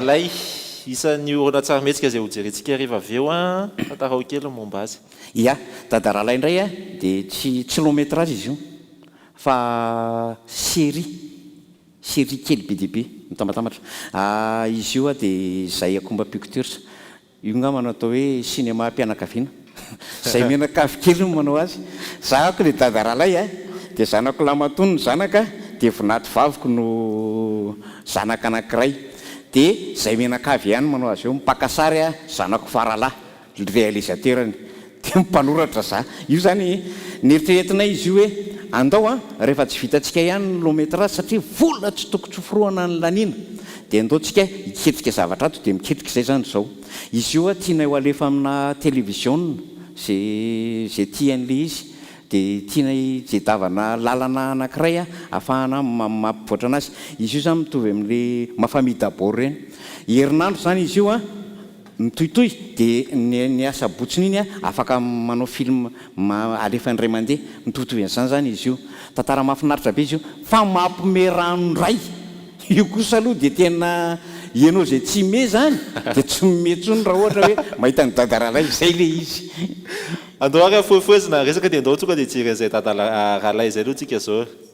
Ilay isan'ny horonantsarimihetsika izay hojerentsika hariva avy eo an! Tantarao kely ny momba azy. Ia, Dada Ralay indray an, dia tsy tsy long métrage izy io fa série, série kely be dia be, mitambatambatra. Izy io an dia Zaïakomba Pictures. Io ngamba no atao hoe sinemam-pianakaviana. Izay mianakavy kely no manao azy. Zahako ilay dada rahalahy a! Dia zanako lahy matoa no zanaka, dia vinady vaviko no zanaka anankiray. Dia izay mianakavy ihany no manao azy eo. Mpaka sary aho, zanako faralahy, realisateur-ny. Dia mpanoratra za. Io izany neritreretinay izy io hoe andao an, rehefa tsy vitantsika ihany ny long métrage satria vola tsy tokony tsoforohana ny laniana dia andao tsika hiketrika zavatra ato dia miketrika izay izany izao. Izy io an tianay ho alefa amina televiziona ze ze tiany le izy dia tianay jedavana lalana anakiray an afahana mampivoatra anazy. Izy io izany mitovy amin'le mafamita bor ireny. Herinandro izany izy io an. Mitohitohy dia ny ny asabotsiny iny a afaka manao film ma alefa indray mandeha mitovitovy an'izany zany izy io tantara mahafinaritra be izy io fa mampme rano ndray io kosa aloha dia tena ianao izay tsy me zany dia tsy mihomehy tsony raha ohatra hoe mahita an'i dada ralay zay le izy. Andao ary afoefoezina resaka dia ndao tonga dia jery an'izay dada ralay zay aloha tsika zao e.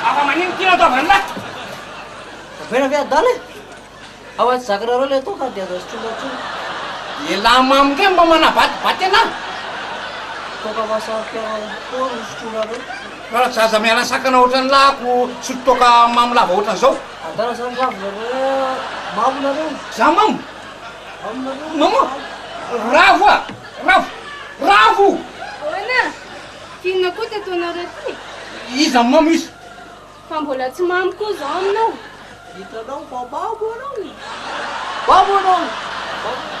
Afa manino ty nataovany lahy. Avela ve adala e? Ao aty zakanareo le toaka dia azo sotroina intsony. Elah mamo ndray mba manabatibaty anah. Toaka mahasarika koa no sotroinareo. Raha zaza miala sakana ohatran'ny lahiko sotro toaka mamo lava ohatran'izao. Adala zany ravinareo mamo nareo. Za mamo? Mamo nareo. Mamo? Ravo ah! Ravo! Ravo! Ahoana? F'inona koa teto anareo ty e? Iza mamo iza? Fa mbola tsy mamo koa zao aminao. Hitanao fa mamo anao e! Mamo anao e! Mamo anao e!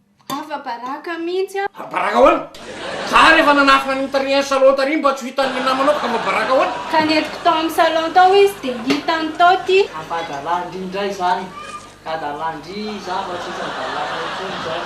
Afa baraka mintsy a. Fa baraka ahoana? Za ary efa nanafina ny mitarihany salon tary mba tsy ho hitan ny namanao ka mba baraka ahoana? Ka nentiko tao amin'ny salon tao izy dia hitany tao ty. Ampahadalandry indray izany ka dalandry za fa tsisy hadalana intsony zany.